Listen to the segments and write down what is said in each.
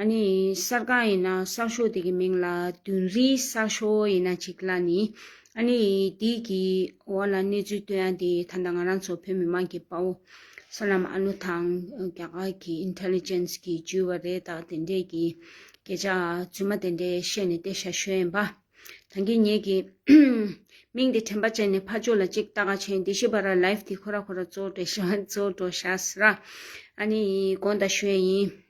ཨ་ནི་གསར་ཁང་ཡིན་ན་གསར་ཤོག་དེ་གི་མིང་ལ་བདུན་རིའི་གསར་ཤོག་ཡིན་ན་ཅིག་ལ་ནི་ཨ་ནི་དེ་གི་འོག་ལ་གནས་ཚུལ་སྟོན་ཡ་དེ་ད་ལྟ་ང་རང་ཚོ་བོད་མི་མང་གི་དཔའ་བོ་གསར་ལམ་ཨ་ནུ་དང་རྒྱ་གར་གི Intelligence གི་བརྒྱུད་བ་རེ་དང་དེ་འདྲས་གི་སྐད་ཆ་རྫུན་མ་དེ་འདྲས་བཤད་ནས་བལྟས་ཤ་ཤོད་ཡིན་པ་ད་གི་ངེད་གི་མིང་དེ་དྲན་པ་ཅན་ནས་ཕ་ཅོ་ལ་ཅིག་ལྟ་ག་ཆེན་དེ་ཤི་བ་ར Live དེ་ཁོ་ར་ཁོ་ར་ཙོ་དྲེ་ཤ་ཙོ་དྲོ་ཤ་སི་ར་ཨ་ནི་གོང་ད་ཤོད་ཡིན།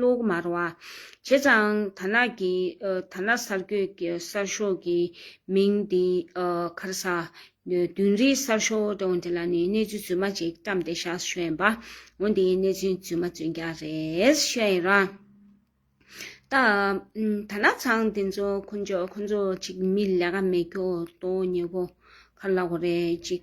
ལུགས་མར་བ། བྱས་ཙང་དར་ནག་གི་དར་ནག་གསར་སྐྱོད་ཀྱི་གསར་ཤོག་གི་མིང་དེ་ཁར་ས། བདུན་རེའི་གསར་ཤོག་དེ་དེ་ལ་ནི་གནས་ཚུལ་རྫུན་མ་ཅིག་བཀྲམས་ཏེ་བཞག་ཤོད་ཡིན་པ། འོན་ཏེ་གནས་ཚུལ་རྫུན་མ་རྫུན་རྐྱང་རེད་ཤོད་ཡིན་རང། ད། དར་ནག་ཚང་དེ་ཚོ་ཁོ་ཚོ་ཁོ་ཚོ་ཅིག་མི་ལས་ཀ་མེད་ཁྱོ་ཏོ་ཉེ་གོ་ཁར་ལ་གོ་རེ་ཅིག།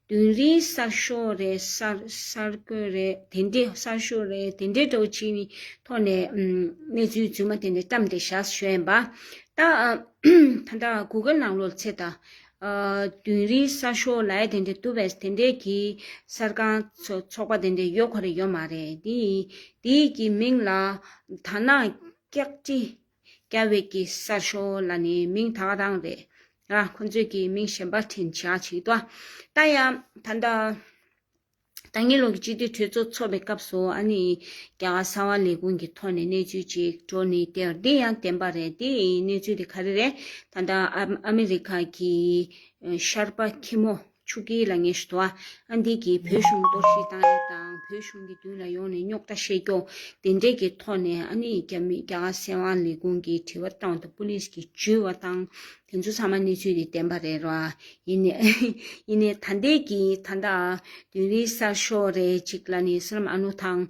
དུས་རིང་གསར་ཤོག་རེད་གསར་འགོད་རེད་དེ་འདྲའི་གསར་ཤོག་རེད་དེ་འདྲའི་སྒྲོག་གཞི་ནི་ཐོག་ནས་གནས་ཚུལ་རྫུན་མ་དེ་འདྲ་བཀྲམས་ཏེ་བཞག་ཤོད་ཡིན་པ། ད་ལྟ་གུ་གེ་ནང་ལོག་ཚེ་ད། དུས་རིང་གསར་ཤོག་ལའེ་དེ་འདྲའི་ཏུ་བས་དེ་འདྲའི་གི་གསར་ཁང་ཚོགས་པ་དེ་འདྲའི་ཡོད་ག་རེ་ཡོད་མ་རེད་དེ་ཡི་གི་མིང་ལ་ད་ནང་སྐྱག་དྲི་སྐྱ་བྷེས་ཀྱི་གསར་ཤོག་ལ་ནི་མིང་ད་ག་དང་རེད། ཁོ་ཚོས་ཀྱི་མིང་གཞན་པ་དྲན་བྱ་ཞིག་ཏུ་ལྟ་ཡ། ད་ལྟ་ད་ངེ་ལུང་གི་སྤྱི་འཐུས་གྲོས་ཚོགས་འཚོགས་པའི་སྐབས་སུ་ཨ་ནི་རྒྱ་གར་གསང་བ་ལས་ཁུངས་ཀྱི་ཐོག་ནས་གནས་ཚུལ་ཅིག་བྲོ་ནི་དེ་འདི་ཡང་བདེན་པ་རེད་དེ་གནས་ཚུལ་དེ་ག་རེ་རེད། ད་ལྟ་ཨ་མི་རི་ཁ་གི་ཤར་པ་ཁྱི་མོ། ཆུ་སྐྱེས་ལ་ངེས་ཤེས་དོགས། ཨ་འདི་གིས་བོད་གཞུང་གཏོར་བཤིག་བཏང་རིགས་དང་བོད་གཞུང་གི་མདུན་ལ་ཡོང་ནས་རྙོག་དྲ་བཤད་རྒྱོ། དེ་འབྲེལ་གྱི་ཐོག་ནས་ཨ་ནི་རྒྱ་མི་རྒྱ་གར་སྲས་དབང་ལི་ཀོང་གིས་དྲི་བ་བཏང་འདུག་པུ་ལིས་ཀྱིས་འཇུས་བ་བཏང། དེ་ཚོ་ཚང་མ་གནས་ཚུལ་དེ་བདེན་པ་རེད་རོ། ཡིན་ནས་ཡིན་ནས་ད་འདས་ཀྱི་ད་ལྟ། དོན་རིག་གསར་ཤོག་རེ་གཅིག་ལ་ནི་སི་རམ་ཨ་ནུ་དང།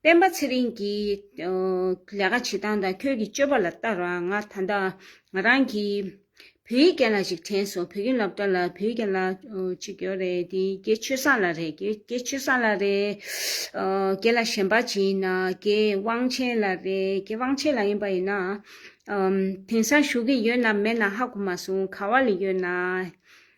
སྤེན་པ་ཚེ་རིང་གིས། ལས་ཀ་བྱེད་སྟངས་དང་ཁྱོད་ཀྱི་སྤྱོད་པ་ལ་ལྟར་བ་ང་ད་ལྟ་ང་རང་གིས་བོད་ཡིག་རྒན་ལ་ཞིག་དྲན་སོང་བོད་ཁྱིམ་སློབ་གྲྭ་ལ་བོད་ཡིག་རྒན་ལ་ཅིག་ཡོད་རེད་དེ་རྒྱའི་ཆོས་སངས་ལ་རེད་རྒྱའི་ཆོས་སངས་ལ་རེད་རྒྱའི་ལ་ཞན་པ་ཅིག་ཡིན་ན་རྒྱའི་དབང་ཆེན་ལ་རེད་རྒྱའི་དབང་ཆེན་ལ་ཡིན་པ་ཡིན་ན། དེང་སང་བཞུགས་ཀྱི་ཡོད་ནམ་མེད་ན་ཧ་གོ་མ་སོང་ག་བ་ལ་ཡོད་ན།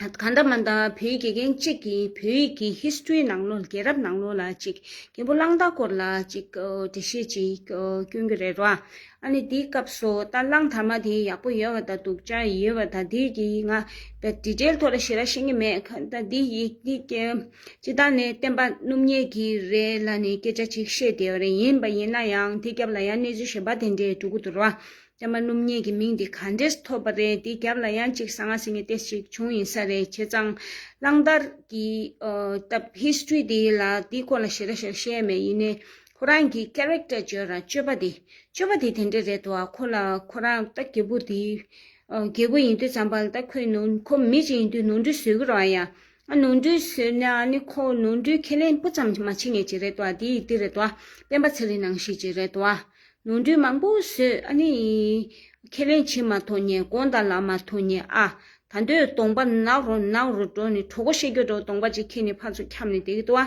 ག་འདྲ་མ་འདྲ་བོད་ཡིག་དགེ་རྒན་གཅིག་གིས་བོད་ཡིག་གི history ནང་ལོ་རྒྱལ་རབས་ནང་ལོ་ལ་ཅིག་རྒྱལ་པོ་གླང་དར་སྐོར་ལ་ཅིག་འགྲེལ་བཤད་ཅིག་བསྐྱོན་གྱི་རེད་རོ། ཨ་ནི་དེའི་སྐབས་སུ་ད་གླང་དར་མ་དེ་ཡག་པོ་ཡོད་བ་དང་སྡུག་ཅག་ཡོད་བ་དང་དེ་གི་ང་ད་དྲི་བྲེལ་ཐོག་ལ་ཞེ་ར་ཤེས་ཀྱི་མེད་ག་ད་དེ་ཡིག་འདི་ཀྱི་སྤྱི་དང་ནི་བསྟན་པ་སྣུབ་ཉེས་ཀྱི་རེད་ལ་ནི་སྐད་ཆ་ཅིག་བཤད་བདེ་བ་རེད་ཡིན་པ་ཡིན་ན་ཡང་དེ་སྐྱབས་ལ་ཡང་གནས་ཚུལ་ཞེས་པ་དེ་འདྲས་གྲུག་གི་འདུག་རོ། ཨེ་མ་སྣུམ་སྙིགས་ཀྱི་མིང་དེ་ག་འདྲས་ཐོབ་པ་རེད་དེའི་རྒྱབ་ལ་ཡང་ཅིག་ས་ང་ཟེར་མི་དེ་ཞིག་བྱུང་ཡིན་ས་རེད་བྱས་ཙང། གླང་དར་གྱི་སྟབས history དེ་ལ་དེའི་སྐོར་ལ་ཞེ་ར་ཞིག་བཤད་མེད་ཡིན་ནའི་ཁོ་རང་གིས character བརྗོད་ར་སྤྱོད་པ་དེ་སྤྱོད་པ་དེ་དེ་འདྲས་རེད་དོ་ཨ་ཁོ་ལ་ཁོ་རང་ལྟ་རྒྱལ་པོ་དེའི་རྒྱལ་པོ་ཡིན་དུས་ཙམ་པ་ལ་ལྟ་ཁོའི་ནོར་ཁོ་མི་གཅིག་ཡིན་དུས་ནོར་འཁྲུལ་བཟོས་གི་རོགས་ཨ་ཡ། ཨ་ནོར་འདྲུད་ཟེར་ནས་ཨ་ནི་ཁོ་བོ་ནོར་འདྲུད་ཁས་ལེན་སྤུ་ཙམ་མ་བྱེད་ངེས་ཅི་རེད་བ་དེའི་དེ་རེད་བ། སྤེན་པ་ཚེ་རིང་ནང་བཞིན་ཅི་རེད་བ། ནོར་འདྲུད་མང་པོ་ཟོས་ཨ་ནི། ཁས་ལེན་བྱེད་མ་ཐོ་ངེས་དགོངས་དག་ལ་མ་ཐོ་ངེས་ཨ། ད་འདོད་སྟོང་པ་ནག་རོ་ནག་རོ་འགྲོ་ནི་གྲོ་གོ་ཤེས་རྒྱོ་འགྲོ་སྟོང་པ་ཅིག་ཁྱེད་ནི་ཕར་ཚུར་འཁྱམས་ནི་དེ་གི་ཏོ་བ།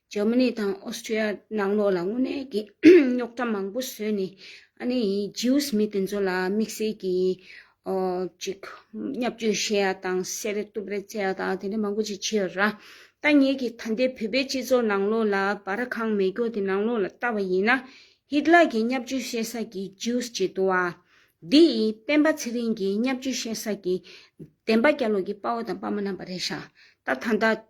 ཇར་མ་ནི་དང་ཨོ་སི་ཀྲི་ཡ་ནང་ལོགས་ལ་དངོས་གནས་ཀྱི་རྙོག་དྲ་མང་པོ་བཟོས་ནས་ཨ་ནི་ཇིའུས་མི་དེ་ཚོ་ལ་དམིགས་བསལ་གྱི་ཅིག་བསྙབ་བཅོས་བྱས་ཡ་དང་བསད་རེ་གཏུབ་རེ་བྱས་ཡ་དང་དེ་འདྲ་མང་པོ་ཅིག་བྱས་ར་ད་ངེད་ཀྱི་ད་ལྟའི་བོད་པའི་སྤྱི་ཚོགས་ནང་ལོགས་ལ་བ་ར་ཁང་མེ་སྒྱོགས་དེ་ནང་ལོགས་ལ་བལྟ་བ་ཡིན་ན་ཧིད་ལག་གི་བསྙབ་བཅོས་བྱེད་ས་ཀྱི་ཇིའུས་ཅིག་འདུག་བ་འདི་ཡི་སྤེན་པ་ཚེ་རིང་གི་བསྙབ་བཅོས་བྱེད་ས་ཀྱི་བདེན་པ་རྒྱ་ལོགས་ཀྱི་དཔའ་བོ་དང་དཔའ་མོ་རྣམ་པ་རེད་ཤག་ད་ད་ད།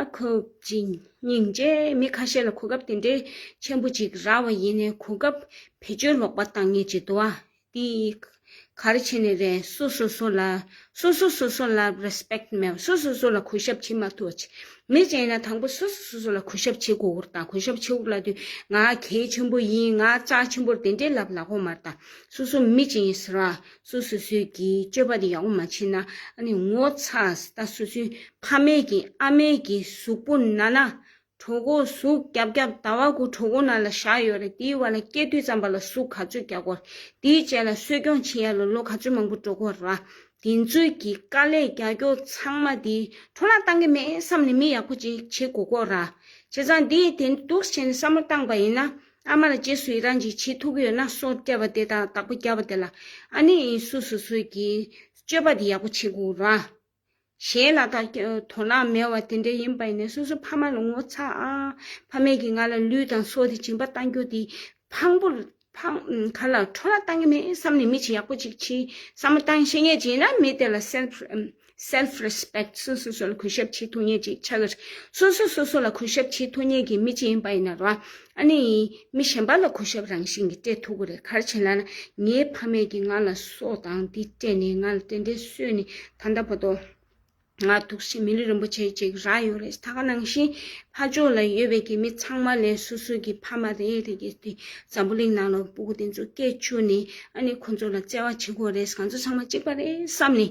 ཨ་ཁུ་ཀྱིས་སྙིང་རྗེ་མི་ཁ་ཤས་ལ་གོ་སྐབས་དེ་འདྲའི་ཆེན་པོ་ཅིག་རག་བ་ཡིན་ནའི་གོ་སྐབས་བེད་སྤྱོད་ལོག་པ་བཏང་ངེས་ཀྱི་དུ་བ་འདི་གར་བྱས་ནས་རེད་སོ་སོ་སོ་ལ་སོ་སོ་སོ་སོ་ལ Respect མེད་བ་སོ་སོ་སོ་ལ་གུས་ཞབས་བྱེད་མ་ཐུབ་བ་ཅིག་མི་གཅིག་ཡིན་ན་དང་པོ་སོ་སོ་སོ་སོ་ལ་གུས་ཞབས་བྱེད་དགོས་བོར་དང་གུས་ཞབས་བྱེད་དགོས་ལབ་དུས་ང་གལ་ཆེན་པོ་ཡིན་ང་ལྕགས་ཆེན་པོར་དེ་འདྲའི་ལབ་ལ་ཁོ་མར་དང་སོ་སོ་མི་གཅིག་ཡིན་ཟེར་བ་སོ་སོ་སོས་ཀྱི་སྤྱོད་པ་དེ་ཡག་པོ་མ་བྱས་ན་ངོ་ཚ་ད་སོ་སོའི་ཕ་མེས་ཀྱི་ཨ་མེས་ཀྱི་གཟུགས་པོ་ན་ན་གྲོ་གོ་གཟུགས་རྒྱབ་རྒྱབ་ད་བ་གུ་གྲོ་གོ་ན་ལ་བཞག་ཡོད་རེད་དེའི་བ་ལ་སྐྱེ་དུས་ཙམ་པ་ལ་གཟུགས་ག་ཚོད་རྒྱག་གོ་དེའི་རྗེས་ལ་གསོས་སྐྱོང་བྱེད་ཡ་ལོ་ལོ་ག་ཚོད་མང་པོ་འགྲོ་གོ་ར་དེ་ཚོས་ཀྱི་དཀའ་ལས་རྒྱ་སྐྱོ་ཚང་མ་དེ་འཕྲོ་བརླག་བཏང་གི་མེད་བསམ་ནས་མི་ཡག་པོ་ཅིག་བྱེད་གོ་གོ་ར་བྱས་ཙང་དེ་དེ་འདུག་བྱས་ནས་བསམ་བློ་བཏང་པ་ཡིན་ན་ཨ་མ་ལ་རྗེས་སུ་ཡི་རང་གིས་བྱེད་ཐུབ་ཀྱི་ཡོད་ན་སོ་བསྐྱལ་བ་དེ་དང་བདག་པོ་བསྐྱལ་བ་དེ་ལ་ཨ་ནེ་ཡིན་སུ་སུ་སོས་ཀྱིས་སྤྱོད་པ་དེ་ཡག་པོ་བྱེད་དགོས་ར། གཞན་ལ་དག་དོ་སྣང་མེད་བ་དེ་འདྲ་ཡིན་པ་ཡིན་ན་སོ་སོའི་ཕ་མ་ལ་ངོ་ཚ་ཨ། ཕ་མེས་ཀྱིས་ང་ལ་ལུས་དང་སྲོག་དེ་སྦྱིན་པ་གཏང་རྒྱུ་དེ་ཕངས་པོ་ག་ལ་ཁྲོ་ལ་གཏང་གི་མེད་བསམ་ནས་མི་ཆེ་ཡག་པོ་ཅིག་ཆེའི་བསམ་བློ་གཏང་ཤེས་ངེས་ཅན་ཡིན་ན་མི་དེ་ལ་སེལ། Self Respect སོ་སོ་སོ་ལ་གུས་ཞབས་བྱེད་ཐུབ་ངེས་ཅིག་ཆགས་ཀྱི་རེད། སོ་སོ་སོ་སོ་ལ་གུས་ཞབས་བྱེད་ཐུབ་ངེས་ཀྱི་མི་ཅི་ཡིན་པ་ཡིན་ན་རོ། ཨ་ནི། མི་གཞན་པ་ལ་གུས་ཞབས་རང་བཞིན་གྱིས་སྤྲད་ཐུབ་གི་རེད་གར་བྱེད་ལ་ན། ངའི་ཕ་མེས་ཀྱིས་ང་ལ་སོགས་དང་འདི་སྤྲད་ནས་ང་ལ་དེ་འདྲའི་གསོས་ནི་ད་ལྟ་བ་དོ། ང་ཐུགས་ཤིང་མི་ལུས་རིན་པོ་ཆེ་ཅིག་རག་ཡོད་རེད་ད་ག་ནང་བཞིན། ཕ་ཕྱོགས་ལ་ཡོད་པའི་གི་མི་ཚང་མ་ལས་སོ་སོ་གྱི་ཕ་མ་རེ་རེ་གྱིས་དེ་འཛམ་བུ་གླིང་ནང་ལ་སྤུ་གུ་དེ་ཚོ་སྐད་བཅོས་ནས་ཨ་ནི་ཁོ་ཚོ་ལ་བརྩེ་བ་བྱེད་དགོས་རེད་གང་ཚོ་ཚང་མ་གཅིག་པ་རེད་བསམ་ནས།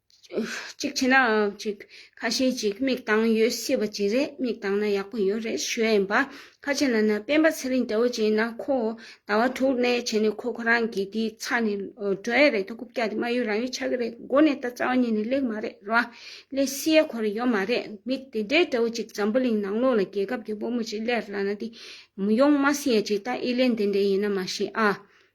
གཅིག་བྱས་ན་ཅིག་ཁ་ཤས་ཅིག་མིག་དང་ཡོད་སྲིད་པ་ཅིག་རེད་མིག་དང་ན་ཡག་པོ་ཡོད་རེད་ཞུས་ཡིན་པ་ཁ་ཆེ་ན་ན་སྤེན་པ་ཚེ་རིང་ལྟ་བུ་ཅིག་ན་ཁོ་ཟླ་བ་དྲུག་གནས་བྱས་ནས་ཁོ་ཁོ་རང་གི་དེའི་ཚ་ནས་འགྲོ་ཡ་རེད་ད་རྐུབ་བཀྱག་དེ་མ་ཡོད་རང་ཡོད་ཆགས་ཀྱི་རེད་མགོ་ནས་ད་རྩ་བ་ཉིད་ནས་ལེགས་མ་རེད་ར་ལས་བསི་ཡ་ཁོ་ར་ཡོད་མ་རེད་མིག་དེ་འདྲའི་ལྟ་བུ་ཅིག་འཛམ་བུ་གླིང་ནང་ལོག་ལ་རྒྱལ་ཁབ་ཀྱི་དཔོ་མོ་ཅིག་ལས་ར་ན་དེ་མི་ཡོང་མ་སྲིད་ཡ་ཅིག་ད་ཨི་ལན་དེ་འདྲའི་ཡིན་ན་མ་ཤེས་ཨ།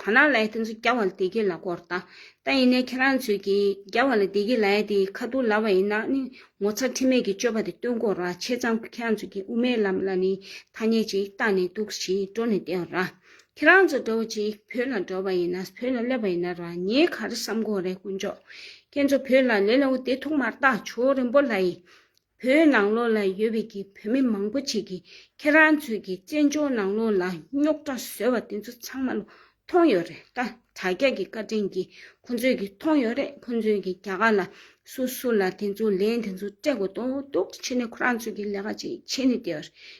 ཐ་ན་ལའི་སྟེང་སུ་རྒྱ་བ་ལ་བདེ་སྐྱིད་ལ་སྐོར་ལྟ། ད་ཡིན་ནའི་ཁྱེད་རང་ཚོས་ཀྱིས་རྒྱ་བ་ལ་བདེ་སྐྱིད་ལའི་དེ་ཁ་བསྡུར་ལ་བ་ཡིན་ན་ནི་ངོ་ཚ་ཁྲེལ་མེད་ཀྱི་སྤྱོད་པ་དེ་སྟོན་དགོས་ར་ཆེ་ཙང་ཁྱེད་རང་ཚོས་ཀྱིས་དབུ་མའི་ལམ་ལ་ནི་ཐ་སྙད་ཅིག་བཏགས་ནས་འདུག་གི་ཞིག་འགྲོ་ནས་བསྡད་འོ་ར། ཁྱེད་རང་ཚོ་འགྲོ་བ་ཅིག་བོད་ལ་འགྲོ་བ་ཡིན་ན་བོད་ལ་སླེབས་པ་ཡིན་ན་ར་ངས་ག་རེ་བསམ་དགོས་རེད་དཀོན་མཆོག། ཁྱེད་ཚོ་བོད་ལ་ལེ་ལོའི་དེ་ཐུག་མར་བཏགས་ཆོག་རིན་པོ་ལྷ་ཡིས། བོད་ནང་ལོགས་ལ་ཡོད་པའི་གི་བོད་མི་མང་པོ་ཆེ་གི་ཁྱེད་རང་ཚོས་གི་བཙན་བྱོལ་ནང་ལོགས་ལ་རྙོག་དྲ་བཟོས་བ་དེ་ཚོ་ཚང་མ་ལོ་མཐོང་ཡོད་རེད་ད་དྲ་རྒྱ་གི་བཀའ་དྲིན་གི་ཁོ་ཚོས་གི་མཐོང་ཡོད་རེད་ཁོ་ཚོས་གི་རྒྱ་གར་ལ་སུ་སུ་ལ་དེ་ཚོ་ལན་དེ་ཚོ་སྤྲད་དགོས་དོ་དུག་ཕྱི་ནས་ཁོ་རང་ཚོས་གི་ལས་ཀ་ཅིག་བྱེད་ནི་དེ་བར་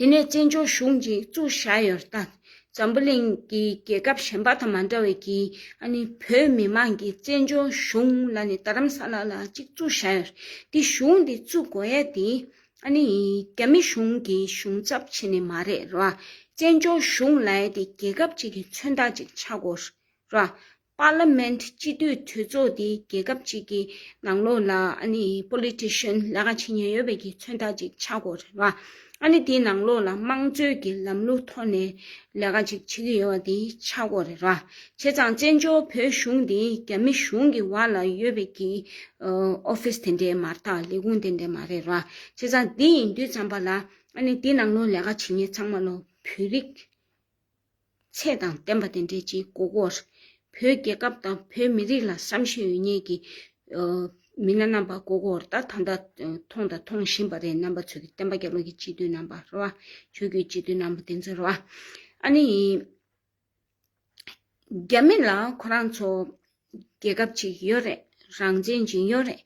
དེ་ནས་བཙན་བྱོལ་གཞུང་གི་བཙུགས་བཞག་ཡོད་སྟབས་འཛམ་བུ་གླིང་གི་རྒྱལ་ཁབ་གཞན་པ་དང་མ་འདྲ་བའི་གིས་བོད་མི་མང་གིས་བཙན་བྱོལ་གཞུང་ལ་ནི་རྡ་རམ་ས་ལ་ལ་གཅིག་བཙུགས་བཞག་ཡོད། དེ་གཞུང་དེ་བཙུགས་དགོས་ཡ་དེ་རྒྱ་མི་གཞུང་གི་གཞུང་ཚབ་བྱས་ནས་མ་རེད་རོ། བཙན་བྱོལ་གཞུང་ལ་ཡ་དེ་རྒྱལ་ཁབ་ཅིག་གི་མཚོན་རྟགས་ཅིག་ཆགས་དགོས་རོ། Parliament སྤྱི་འཐུས་གྲོས་ཚོགས་དེ་རྒྱལ་ཁབ་ཅིག་གི་ནང་ལོགས་ལ Politician ལས་ཀ་བྱེད་མྱོང་ཡོད་པའི་གི་མཚོན་རྟགས་ཅིག་ཆགས་དགོས་རེད་བ། དེའི་ནང་ལོགས་ལ་དམངས་གཙོའི་གི་ལམ་ལུགས་ཐོག་ནས་ལས་ཀ་ཅིག་བྱེད་གི་ཡོད་བ་དེ་ཆགས་དགོས་རེད་བ། བྱས་ཙང་བཙན་བྱོལ་བོད་གཞུང་དེ་རྒྱ་མི་གཞུང་གི་བར་ལ་ཡོད་པའི་གི Office དེ་འདྲའི་མ་རྟགས་ལས་ཁུངས་དེ་འདྲའི་མ་རེད་བ། བྱས་ཙང་དེ་ཡིན་དུས་ཙམ་པ་ལ་དེའི་ནང་ལོགས་ལས་ཀ་བྱེད་མྱེད་ཚང་མ་ལོ་བོད་རིགས། ཚད་དང་བརྟན་པ་དེ་འབྲེལ་གྱི་མགོ་སྐོར། བོད་རྒྱལ་ཁབ་དང་བོད་མི་རིགས་ལ་བསམ་ཤེས་ཡོད་ཉེས་ཀྱི་མི་སྣ་རྣམ་པ་མགོ་སྐོར་ད་ད་ལྟ་མཐོང་དང་མཐོང་བཞིན་པ་རེད་རྣམ་པ་ཚོས་བསྟན་པ་རྒྱ་བློ་གྱི་སྤྱི་འཐུས་རྣམ་པ་རེད་བ། ཆོས་བརྒྱུད་སྤྱི་འཐུས་རྣམ་པ་དེ་ཚོ་རེད་བ། ཨ་ནི། རྒྱ་མི་ལ་ཁོ་རང་ཚོ་རྒྱལ་ཁབ་ཅིག་ཡོད་རེད་རང་བཙན་གྱི་ཡོད་རེད།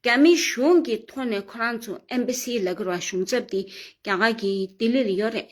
རྒྱ་མི་གཞུང་གི་ཐོག་ནས་ཁོ་རང་ཚོ Embassy ལ་གྱུར་བ་གཞུང་ཚབ་དེ་རྒྱ་གར་གྱི་ལྡི་ལི་ལ་ཡོད་རེད།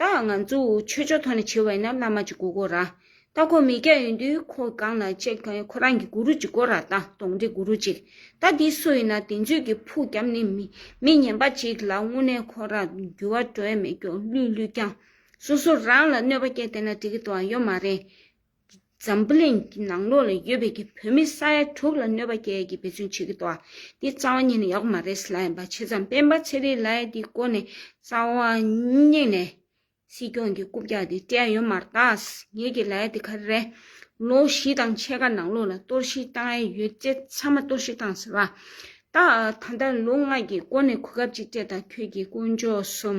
ད་ང་ཚོ་ཆོས་ཕྱོགས་ཐོག་ནས་བྱེད་བས་ན་བླ་མ་གཅིག་གོ་གོ་ར། ད་ཁོ་མི་སྐྱ་ཡོད་དུས་ཁོ་སྒང་ན་ཅེག་ཁོ་ཁོ་རང་གི་གུ་རུ་གཅིག་གོ་ར་ད་དོང་འདི་གུ་རུ་གཅིག་ད་འདི་སུ་ཡིན་ན་དེ་མཛོད་ཀྱི་ཕུག་རྒྱམ་ནི་མི་མི་ཉན་པ་གཅིག་ལ་དངོས་གནས་ཁོ་ར་འགྱུར་བ་གྲོས་མེད་སྐྱོ་བླུས་བླུས་ཀྱང་སོ་སོ་རང་ལ་གནོད་པ་སྐྱེ་དེ་ན་འགྲིག་གི་དོ་ཡོད་མ་རེད། འཛམ་བུ་གླིང་གི་ནང་ལོགས་ལ་ཡོད་པའི་གི་བོད་མི་ས་ཡ་དྲུག་ལ་གནོད་པ་བསྐྱལ་ཡས་ཀྱི་འབད་བརྩོན་བྱེད་ཀྱི་འདུག་ཨ་འདི་རྩ་བ་ཉིད་ནས་ཡག་པོ་མ་རེད་ལ་ཡིན་པ་བྱས་ཙང་སྤེན་པ་ཚེ་རིང་ལའི་འདི་སྐོར་ནས་རྩ་བ་ཉིད་ནས་སྲིད་སྐྱོང་གི་རྐུབ་བཀྱག་འདི་སྤྲད་ཡོད་མ་རྟགས་ངེད་ཀྱི་ལའི་འདི་ག་རེ་ལོ་བཞི་དང་ཕྱེད་ཀ་ནང་ལོགས་ལ་གཏོར་བཤིག་བཏང་ཡས་ཡོད་བྱས་ཚང་མ་གཏོར་བཤིག་བཏང་ཟེར་བ་ཏག་ཨ་ད་ལྟ་ལོ་ལྔ་གྱི་སྐོར་ནས་གོ་སྐབས་ཅིག་སྤྲད་ད་ཁྱོད་ཀྱི་དཀོན་མཆོག་གསུམ་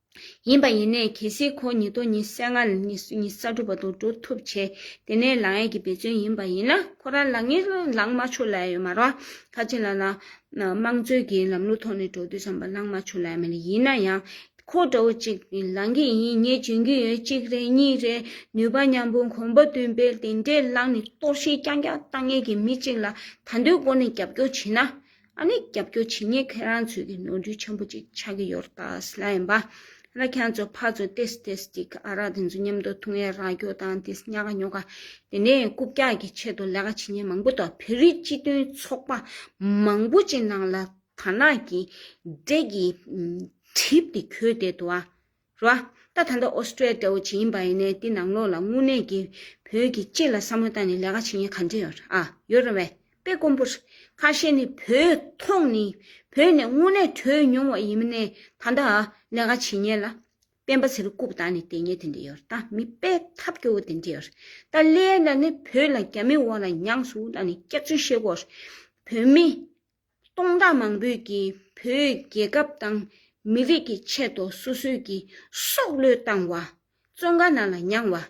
ཡིན་པ་ཡིན་ནས་གལ་སྲིད་ཁོ་ཉིད་དོན་གཉིས་བསལ་ང་ཉིད་གསར་སྒྲུབ་པ་དང་འགྲོ་ཐུབ་ཆེ། དེ་ནས་ལག་ངན་གྱི་འབད་བརྩོན་ཡིན་པ་ཡིན་ན་ཁོ་རང་ལག་ངན་ལངས་མ་ཆོག་ལ་ཡ་ཡོད་མ་རོ། ཁ་ཆེ་ལ་ལ། དམངས་གཙོའི་གི་ལམ་ལུགས་ཐོག་ནས་འགྲོ་དུས་བསམ་པ་ལངས་མ་ཆོག་ལ་ཡ་མེད་ལ་ཡིན་ན་ཡང། ཁོ་འདྲ་བོ་ཅིག་ལངས་གི་ཡིན་ངས་འཇོན་གྱི་ཡོད་གཅིག་རེད་གཉིས་རེད་ནུས་པ་མཉམ་པོ་གོམ་པ་མདུན་སྤེལ་དེ་འདྲས་བླངས་ནས་གཏོར་ཤིང་རྐྱང་རྐྱང་བཏང་ངེས་ཀྱི་མི་གཅིག་ལ་ད་འདོད་སྒོ་ནས་རྒྱབ་སྐྱོར་བྱེད་ན། ཨ་ནི་རྒྱབ་སྐྱོར་བྱེད་ངེས་ཁྱེད་རང་ཚོས་ཀྱི་ནོར་འཁྲུལ་ཆེན་པོ་ཅིག་ཆགས་ཀྱི་ཡོད་རྟ་སི་ལ་ཡིན་པ་ར་ཁྱང་ཚོ་ཕ་ཚོ་ཏེ་སི་ཏེ་སི་ཏི་ཁ་ཨ་ར་དེ་ཚོ་མཉམ་དུ་ཐུང་ཡ་ར་ཁྱོ་དང་དེ་སི་ཉ་ཁ་ཉོ་ཁ་དེ་ནས་རྐུབ་བཀྱག་གི་ཆེད་དུ་ལས་ཀ་བྱེད་ཉེན་མང་པོ་འདུག་བོད་རིགས་སྤྱི་མཐུན་ཚོགས་པ་མང་པོ་ཅིག་ནང་ལ་དར་ནག་གི་འདྲེ་གིས་གྲིབ་དེ་གྱོད་བསྡད་འདུག་ཨ། རོ། ད་ད་ལྟ་ཨོ་སི་ཀྲེ་ཏའོ་བྱེད་ཀྱིན་པ་ཡིན་ནའི་དེ་ནང་ལོགས་ལ་དངོས་གནས་ཀྱིས་བོད་ཀྱི་སྤྱི་ལ་བསམ་བློ་བཏང་ནས་ལས་ཀ་བྱེད་མཁན་ག་འདྲས་ཡོད་ཨ། ཡོད་རེད་བས། དཔེ་དཀོན་པོ། ཁ་ཤས་ནི་བོད་ཐོག་ནས་བོད་ནས་དངོས་གནས་བྲོས་མྱོང་བ་ཡིན་མིན་ནས་ད་ལྟ་ཨ་ལས་ཀ་བྱེད་ཉེན་ལ། སྤེན་པ་ཚེ་རུ་རྐུབ་བཏགས་ནས་བསྡད་ཉེན་དེ་འདྲས་ཡོད་ཨ་མི་དཔེ་ཐབས་སྐྱོ་བོ་དེ་འདྲས་ཡོད་ད་ལས་ལ་ནི་བོད་ལ་རྒྱ་མི་འོག་ལ་མྱངས་སུ་ལ་ནི་སྐྱག་རྫུན་བཤད་དགོས་བོད་མི། སྟོང་ཕྲག་མང་པོས་ཀྱིས་བོད་རྒྱལ་ཁབ་དང་མི་རིགས་ཀྱི་ཆེད་དུ་སོ་སོས་ཀྱི་སྲོག་བློས་བཏང་བ། བཙོན་ཁང་ནང་ལ་མྱངས་བ།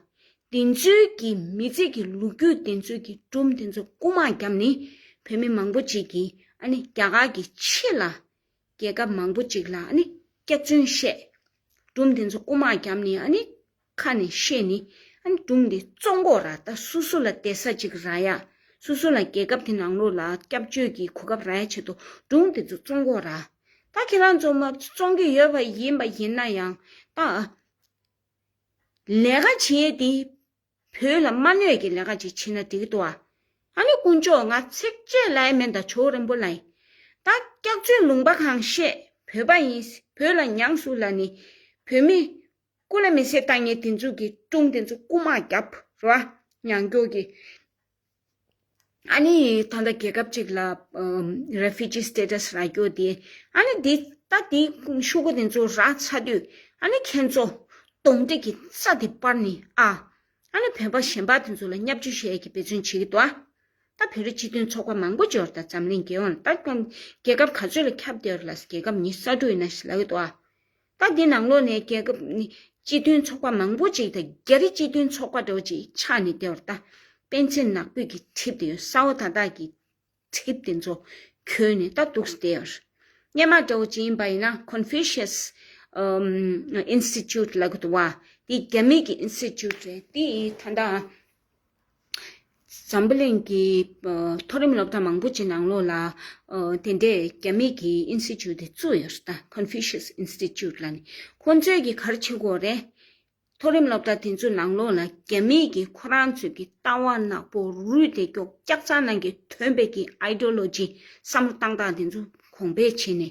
དེ་ཚོའི་ཀྱི་མི་ཚེ་ཀྱི་ལུག་ཁྱུ་དེ་ཚོའི་ཀྱི་གྲུམ་དེ་ཚོ་རྐུ་མ་རྒྱབ་ནི་བོད་མི་མང་པོ་ཅིག་གིས་ཨ་ནི་རྒྱ་གར་གྱི་ཕྱི་ལ་རྒྱལ་ཁབ་མང་པོ་ཅིག་ལ་ཨ་ནི་སྐྱག་རྫུན་བཤད། གྲུམ་དེ་ཚོ་རྐུ་མ་རྒྱབ་ནི་ཨ་ནི་ཁ་ནས་བཤད་ནི། ཨ་ནི་སྒྲུང་འདི་གཙོ་འགོག་ར་ད་སུ་སུ་ལ་དད་ས་ཅིག་ར་ཡ། སུ་སུ་ལ་རྒྱལ་ཁབ་དེ་ནང་ལོགས་ལ་སྐྱབས་བཅོལ་གྱི་གོ་སྐབས་ར་ཡ་བྱེད་དོ་སྒྲུང་དེ་ཚོ་གཙོ་འགོག་ར། ད་ཁྱེད་རང་ཚོ་མ་བཙོང་གི་ཡོད་པ་ཡིན་པ་ཡིན་ན་ཡང་ད། ལས་ཀ་བྱེད་དེ། བོད་ལ་མ་གནོད་ཀྱི་ལས་ཀ་ཅིག་བྱེད་ན་འགྲིག་གི་འདུག་ཨ། ཨ་ནི་དཀོན་མཆོག་ང་ཚེགས་བཅད་ལ་ཨེ་མེད་ད་ཇོ་རིན་པོ་ལ་ཡིན། ད་སྐྱག་བཅོལ་ལུང་པ་གང་བཤད་བོད་པ་ཡིན་བོད་ལ་མྱངས་སུ་ལ་ནི་བོད་མི། ཀུན་ལ་མི་ཤེས་ལྟ་ངན་དེ་ཚོ་གི་ཀྲུང་དེ་ཚོ་རྐུ་མ་རྒྱབ་ར་ཉང་སྐྱོ་གི། ཨ་ནི་ད་ལྟ་རྒྱལ་ཁབ་ཅིག་ལ Refugee Status རག་རྒྱོ་དེ་ཨ་ནི་དེ་ད་དེ་ཤུ་གུ་དེ་ཚོ་རག་ཚ་དུས་ཨ་ནི་ཁྱེད་ཚོ་གདོང་འདྲེ་གི་རྩ་དེ་དཔར་ནི་ཨ། ཨ་ནི་བོད་པ་གཞན་པ་དེ་ཚོ་ལ་སྙབ་ཅུ་ཤེས་གི་བེད་ཚོན་བྱེད་གི་འདུག་ད་བོད་རི་སྤྱི་དོན་ཚོགས་པ་མང་པོ་འབྱོར་ད་འཛམ་གླིང་རྒྱལ་ཡོངས་ལ་ད་རྒྱལ་ཁབ་ག་ཚོད་ལ་ཁྱབ་བདེ་ར་ལ་རྒྱལ་ཁབ་ཉི་ས་དྲུག་ཡི་ན་ཤི་ལ་གི་འདུག་ད་འདི་ནང་ལོགས་ནས་རྒྱལ་ཁབ་སྤྱི་མཐུན་ཚོགས་པ་མང་པོ་ཅིག་དང་རྒྱ་རི་སྤྱི་མཐུན་ཚོགས་པ་འགྲོ་ཅིག་ཕྱག་ནི་བདེ་བར་བལྟ། སྤེན་ཚེ་ནག་པོས་ཀྱི་གྲིབ་དེ་ཡོད་ས་བོ་ད་ད་ཀྱི་གྲིབ་དེ་ཚོ་ཁྱོན་ནས་ད་འདུག་བདེ་བར། སྙན་མ་དགྲ་བོ་ཅི་ཡིན་པ་ཡིན་ན Confucius Institute ལ་གི་དུ་བ་དེ་རྒྱ་མི་གི Institute རེད་དེ་ཡིས་ད་ད་འཛམ་བུ་གླིང་གི་མཐོ་རིམ་སློབ་གྲྭ་མང་པོ་ཅིག་ནང་ལོགས་ལ། དེ་འདྲའི་རྒྱ་མིག་གི་ཨིན་སི་ཅུ་དེ་བཙུགས་ཡོད་ཟེར། Confucius Institute། ལ་ནི་ཁོ་ཚོའི་གི་གར་ཆེན་གོ་རེད། མཐོ་རིམ་སློབ་གྲྭ་དེ་ཚོའི་ནང་ལོགས་ལ་རྒྱ་མིག་གི་ཁོ་རང་ཚོའི་གི་ལྟ་བ་ནག་པོ་རུས་དེ་ཀྱོག་ཀྱག་ཚང་ནང་གི་ཐོན་པའི་གི Ideology། བསམ་བློ་གཏང་སྟངས་དེ་ཚོ་གོང་སྤེལ་བྱས་ནས།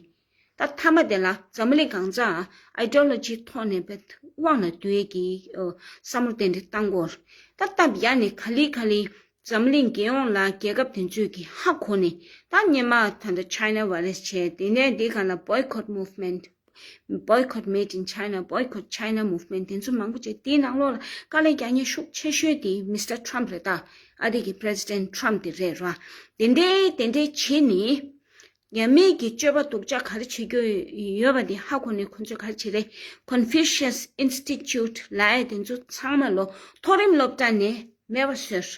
ད་མཐའ་མ་དེ་ལ་འཛམ་བུ་གླིང་གང་ལྕགས Ideology ཐོག་ནས་བེད་དབང་ལ་འདུལ་བའི་བསམ་བློ་ཏན་ཏན་གཏང་དགོས། ད་སྟབས་ཡག་ནི་ག་ལི་ག་ལི་འཛམ་བུ་གླིང་རྒྱལ་ཡོངས་ལ་རྒྱལ་ཁབ་དེ་ཚོས་ཀྱི་ཧ་གོ་ནས་ད་སྙན་མ་ད་ལྟ China Virus བྱས་དེ་ནས་དེ་ག་ལ Boycott Movement Boycott Made in China Boycott China Movement དེ་ཚོ་མང་པོ་བྱས་དེའི་ནང་ལོགས་ལ་དཀའ་ལས་རྒྱག་ཉེན་ཤུགས་ཆེ་ཤོས་དེ Mister Trump རེད་ད་ཨ་རི་གི President Trump དེ་རེད་ར་དེ་འདྲའི་དེ་འདྲའི་བྱས་ནས་ཉམས་མེད་ཀྱི་སྤྱོད་པ་སྡུག་ཅག་ག་རེ་བྱེད་རྒྱུ་ཡོད་པ་དེ་ཧ་གོ་ནས་ཁོ་ཚོས་ག་རེ་བྱེད་རེད། Confucius Institute། ལའེ་དེ་ཚོ་ཚང་མ་ལོ་མཐོ་རིམ་སློབ་གྲྭ་ནས་མེད་པ་ཟེར།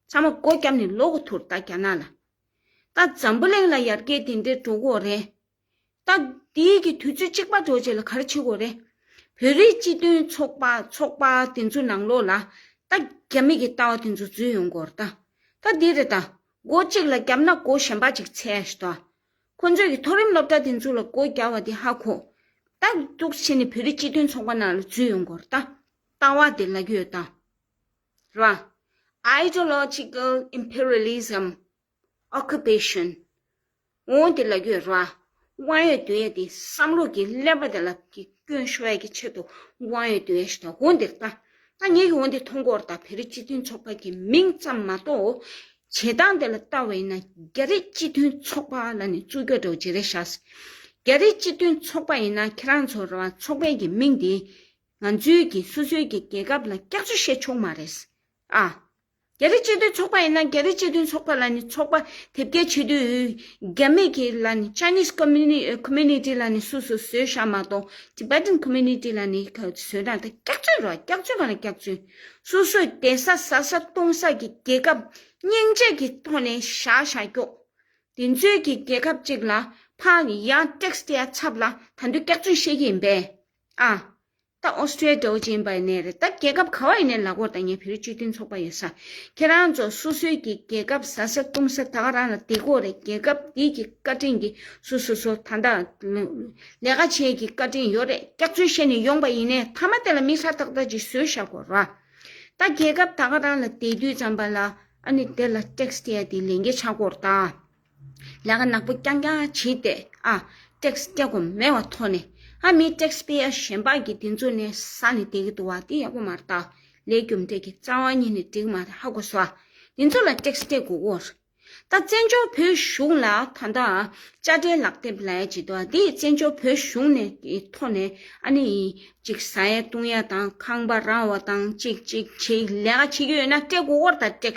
ཚང་མ་སྒོ་བརྒྱབ་ནས་ལོག་གོ་ཐུར་བལྟ་རྒྱ་ནག་ལ། ད་འཛམ་བུ་གླིང་ལ་ཡར་རྒྱས་དེ་འདྲའི་འགྲོ་གི་རེད། ད་འདི་གི་དུས་ཚོད་གཅིག་པ་འགྲོ་རྗེས་ལ་ག་རེ་བྱེད་དགོས་རེད། བོད་རིགས་སྤྱི་མཐུན་ཚོགས་པ་ཚོགས་པ་དེ་ཚོ་ནང་ལོག་ལ། ད་རྒྱ་མིག་གི་ལྟ་བ་དེ་ཚོ་འཛུལ་ཡོང་གོ་རེད། ད་འདི་རེད། སྒོ་གཅིག་ལ་བརྒྱབ་ན་སྒོ་གཞན་པ་ཅིག་འཚལ་ཞེས་དང། ཁོ་ཚོས་ཀྱི་མཐོ་རིམ་སློབ་གྲྭ་དེ་ཚོ་ལ་སྒོ་བརྒྱབ་བ་དེ་ཧ་གོ། ཏག་ཏུག་ཕྱིན་ནས་བོད་རིགས་སྤྱི་མཐུན་ཚོགས་པ་ནང་ལ་འཛུལ་ཡོང་དགོས་ར་ལྟ་བ་དེ་ལ་གི་ཡོད་དམ། རེད་བ། Ideological Imperialism Occupation། ངོ་བོ་འདི་ལ་ཡོད་ར། དབང་ཡོད་དུ་ཡ་དེ་བསམ་བློ་གྱི་ཀླད་པ་དེ་ལ་སྐྱོན་ཤོད་ཀྱི་ཆེད་དུ་དབང་ཡོད་དུ་ཡ་ཞེས་དང་བོ་འདིར་བལྟ། ད་ངེད་ཀྱི་བོ་འདི་མཐོང་སྐོར་དང་བེ་རི་སྤྱི་མཐུན་ཚོགས་པ་གྱི་མིང་ཙམ་མ་གཏོགས། བྱེད་སྟངས་དེ་ལ་བལྟ་བ་ཡིན་ན་རྒྱ་རི་སྤྱི་མཐུན་ཚོགས་པ་ལ་ནི་རྩུབ་སྐྱོ་དྲག་ཇེ་རེ་ཤ་སྲིད། རྒྱ་རི་སྤྱི་མཐུན་ཚོགས་པ་ཡིན་ན་ཁྱེད་རང་ཚོ་ར་བ་ཚོགས་པའི་གྱི་མིང་དེས་ང་ཚོའི་གྱི་སོ་སོའི་གྱི་རྒྱལ་ཁབ་ལ་སྐྱག་རྫུ་བཤད་ཆོག་མ་རེད། ཨ། རྒྱ་རི་སྤྱི་མཐུན་ཚོགས་པ་ཡིན་ན་རྒྱ་རི་སྤྱི་མཐུན་ཚོགས་པ་ལ་ནི་ཚོགས་པ་དེབ་སྐྱེལ་བྱེད་དུས་རྒྱ་མི་གི་ལ་ནི Chinese Community ལ་ནི་སུ་སུ་བཟོས་ཤ་མ་གཏོགས Tibetan Community ལ་ནི་བཟོས་ན་ད་སྐྱག་རྫུན་རོ་སྐྱག་རྫུན་མ་ལ་སྐྱག་རྫུན་སུ་སུ་དེ་ས་ཟ་ས་གཏོང་ས་གི་རྒྱལ་ཁབ་སྙིང་རྗེ་གི་ཐོག་ནས་བཞག་བཞག་སྐྱོག་དེ་ཚོའི་གི་རྒྱལ་ཁབ་ཅིག་ལ་ཕ་ཡ Tax དེ་ཡ་ཚབ་ལ་ད་འདུས་སྐྱག་རྫུན་བཤད་གི་ཡིན་པས་ཨ། ད་ཨོ་སི་ཀྲེ་ཏོའུ་ཅན་པའི་ནས་རེད་ད་རྒྱལ་ཁབ་ག་བ་ཡི་ནས་ལག་བོར་ད་ངས་བེ་རི་བཅུ་དུན་ཚོགས་པ་ཡོད་ས་ཁྱེད་རང་ཚོ་སོ་སོའི་གི་རྒྱལ་ཁབ་ཟ་ས་བཏུང་ས་ད་ག་རང་ལ་དེ་དགོས་རེད་རྒྱལ་ཁབ་དེ་གི་བཀའ་དྲིན་གི་སུ་སོ་སོ་ད་ད་ལས་ཀ་བྱེད་གི་བཀའ་དྲིན་ཡོད་རེད་སྐྱག་རྫུན་བཤད་ནས་ཡོང་པ་ཡིན་ནས་མཐའ་མ་དེ་ལ་མི་ཧྲ་ཐག་ཐག་ཅིག་བཟོས་ཤག་གོ་ར་ད་རྒྱལ་ཁབ་ད་ག་རང་ལ་དེ་དུས་ཙམ་པ་ལ་ཨ་ནི་དེ་ལ tax དེ་ཡ་དེ་ལས་འགེལ་ཆག་གོ་ར་ད། ལས་ཀ་ནག་པོ་རྐྱང་རྐྱང་བྱས་ཏེ་ཨ་ཏེག་སྐྱ་སྒོམ་མེ་བ་ཐོག་ནས་ཨ་མི་ཏེག་སྤེ་ཨ་གཞན་པ་གི་དེ་ཚོ་ནི་ས་ནས་བསྡད་གི་འདུག་བ་དེ་ཡག་པོ་མ་རེད་ད་ལས་རྒྱུ་འབྲས་ཀྱི་རྩ་བ་ཉིད་ནས་འགྲིག་མ་རེད་ཧ་གོ་སོ་དེ་ཚོ་ལ་ཏེག་སྐྱ་དགོས་གོ་རེད་ད་བཙན་བྱོལ་བོད་གཞུང་ལ་ད་ལྟ་ཨ་བཅའ་ཁྲལ་ལག་དེབ་ལ་ཡ་བྱེད་འདུག་བ་དེ་བཙན་བྱོལ་བོད་གཞུང་ནས་གི་ཐོག་ནས་ཨ་ནི་ཡིན་གཅིག་བཟའ་ཡ་བཏུང་ཡ་དང་ཁང་པ་ར་བ་དང་གཅིག་གཅིག་བྱེད་ལས་ཀ་བྱེད་རྒྱུ་ཡོད་ན་སྤྲད་གོ་རེད་ད་ཏེག་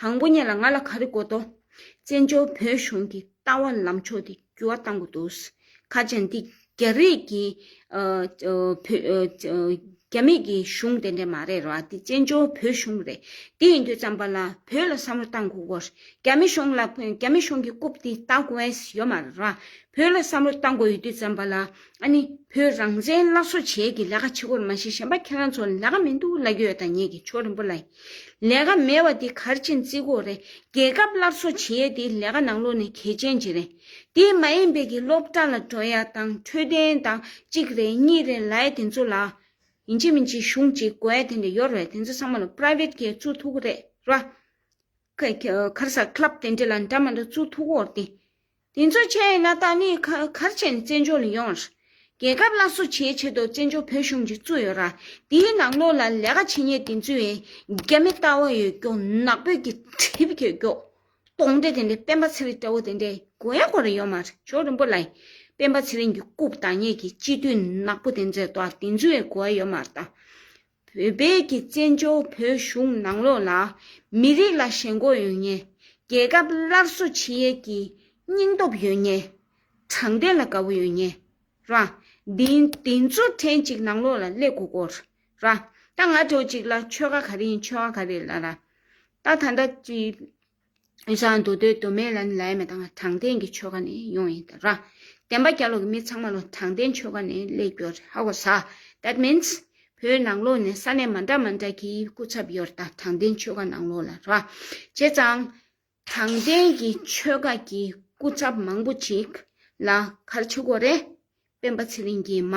དང་པོ་གཉིས་ལ་ང་ལ་ག་རེ་དགོས་དོ། བཙན་བྱོལ་བོད་གཞུང་གི་ལྟ་བ་ལམ་ཕྱོགས་དེ་འགྱུར་བ་གཏང་དགོས་འདུག་ཁ་ཅན་འདི་རྒྱ་རིགས་ཀྱི་རྒྱ་མེད་ཀྱི་གཞུང་དེ་འདྲས་མ་རེད་རེད་བ་འདི་བཙན་བྱོལ་བོད་གཞུང་རེད་དེ་ཡིན་དུས་བརྩམས་པ་ལ་བོད་ལ་བསམ་བློ་གཏང་དགོས་དགོས་རྒྱ་མི་གཞུང་ལ་རྒྱ་མི་གཞུང་གི་རྐུབ་དེ་ལྟ་དགོས་ཡོད་མ་རེད་རེད་བ་བོད་ལ་བསམ་བློ་གཏང་དགོས་ཡོད་དུས་བརྩམས་པ་ལ་ཨ་ནི་བུ་རང་བཙན་སླར་གསོ་བྱེད་ཀྱི་ལས་ཀ་བྱེད་དགོས་རེད་མ་གཞི་གཞན་པ་ཁྱེད་རང་ཚོ་ལས་ཀ་མི་འདུག་ལ་ཁྱོད་དང་ངེད་ཀྱི་ཕྱོགས་རིན་པོ་ལ་ཡིན་ལས་ཀ་མེད་བ་འདི་གར་ཕྱིན་བརྩི་དགོས་རེད་རྒྱལ་ཁབ་སླར་གསོ་བྱེད་དེ་ལས་ཀ་ནང་ལོག་ནི་གལ་ཆེན་ཅིག་རེད་དེ་མ་ཡིན་པའི་གི་སློབ་གྲྭ་ལ་འགྲོ་ཡ་དང་འཕྲོད་བསྟེན་དང་གཅིག་རེད་གཉིས་རེད་ལ་ཡ་དེ་ཚོ་ལ་ཡིན་གཅིག་མིན་གཅིག་གཞུང་གཅིག་དགོས་ཡ་དེ་འདྲ་ཡོད་རེད་དེ་ཚོ་ཚང་མ་ལ private གི་བཙུགས་ཐུག་གི་རེད་ར། ཁར་ས club དེ་འདྲ་ལ་འདྲ་མ་འདྲ་བཙུགས་ཐུག་གོ་དེ། དེ་ཚོ་བྱས་ཡོད་ན་ད་ནི་གར་བྱས་ནས་བཙན་བྱོལ་ལ་ཡོང། རྒྱལ་ཁབ་སླར་གསོ་བྱེད་ཆེད་དུ་བཙན་བྱོལ་བོད་གཞུང་ཅིག་བཙུགས་ཡོད་ར་དེའི་ནང་ལོགས་ལ་ལས་ཀ་བྱེད་ཉེས་དེ་ཚོའི་བའི་རྒྱ་མི་ལྟ་བ་ཡོད་སྐྱོག་ནག་པོའི་གི་གྲིབ་གྱོད་སྐྱོག་སྟོང་འདྲེ་དེ་འདྲེ་སྤེན་པ་ཚེ་རིང་ལྟ་བུ་དེ་འདྲེ་གོ་ཡ་གོ་རེ་ཡོད་མ་རེད་ཇོ་རིན་པོ་ལ་ཡིན་སྤེན་པ་ཚེ་རིང་གྱི་རྐུབ་དང་ཉེས་ཀྱི་སྤྱི་འཐུས་ནག་པོ་དེ་འཛེ་ལྟ་བ་དེ་ཚོའི་བའི་གོ་ཡ་ཡོད་མ་རེད་ད། བོད་པའི་ཀྱི་བཙན་བྱོལ་བོད་གཞུང་ནང་ལོགས་ལ་མི་རིགས་ལ་ཞེན་མགོ་ཡོད་ངེས་རྒྱལ་ཁབ་སླར་གསོ་བྱེད་ཡས་ཀྱི་སྙིང་སྟོབས་ཡོད་ངེས་དྲང་བདེན་ལ་དགའ་བོ་ཡོད་ངེས་ར་འདི་འདི་ཚོ་ཕྲན་ཅིག་ནང་ལོགས་ལ་སླེབས་དགོས་སྐོར་ར་ད་ང་དྲོ་ཅིག་ལ་ཆོལ་ཁ་ག་རེ་ཡིན་ཆོལ་ཁ་ག་རེ་ལ་ར་ད་ད་ད་ཅི། ཞང་དུ་སྡོད་དུ་མེད་ལ་ནི་ལའི་མེ་དང་དྲང་བདེན་གྱི་ཆོ་ག་ནི་ཡོང་ཡིན་ཏར། བདེན་པ་བསྐྱར་ལོག་གི་མི་ཚང་མ་ལོ་དྲང་བདེན་ཆོ་ག་ནི་ལས་སྐྱོ་རེད་ཧ་གོ་ས that means བོད་ནང་ལོག་ནས་ས་གནས་མ་འདྲ་མ་འདྲ་གི་སྐུ་ཚབ་ཡོར་ད་དྲང་བདེན་ཆོ་ག་ནང་ལོག་ལ་ར་བྱེད་ཙང་དྲང་བདེན་གྱི་ཆོ་ག་གི་སྐུ་ཚབ་མང་པོ་ཅིག་ལ་གར་ཆུ་གོ་རེད་སྤེན་པ་ཚེ་རིང་གིས་མ་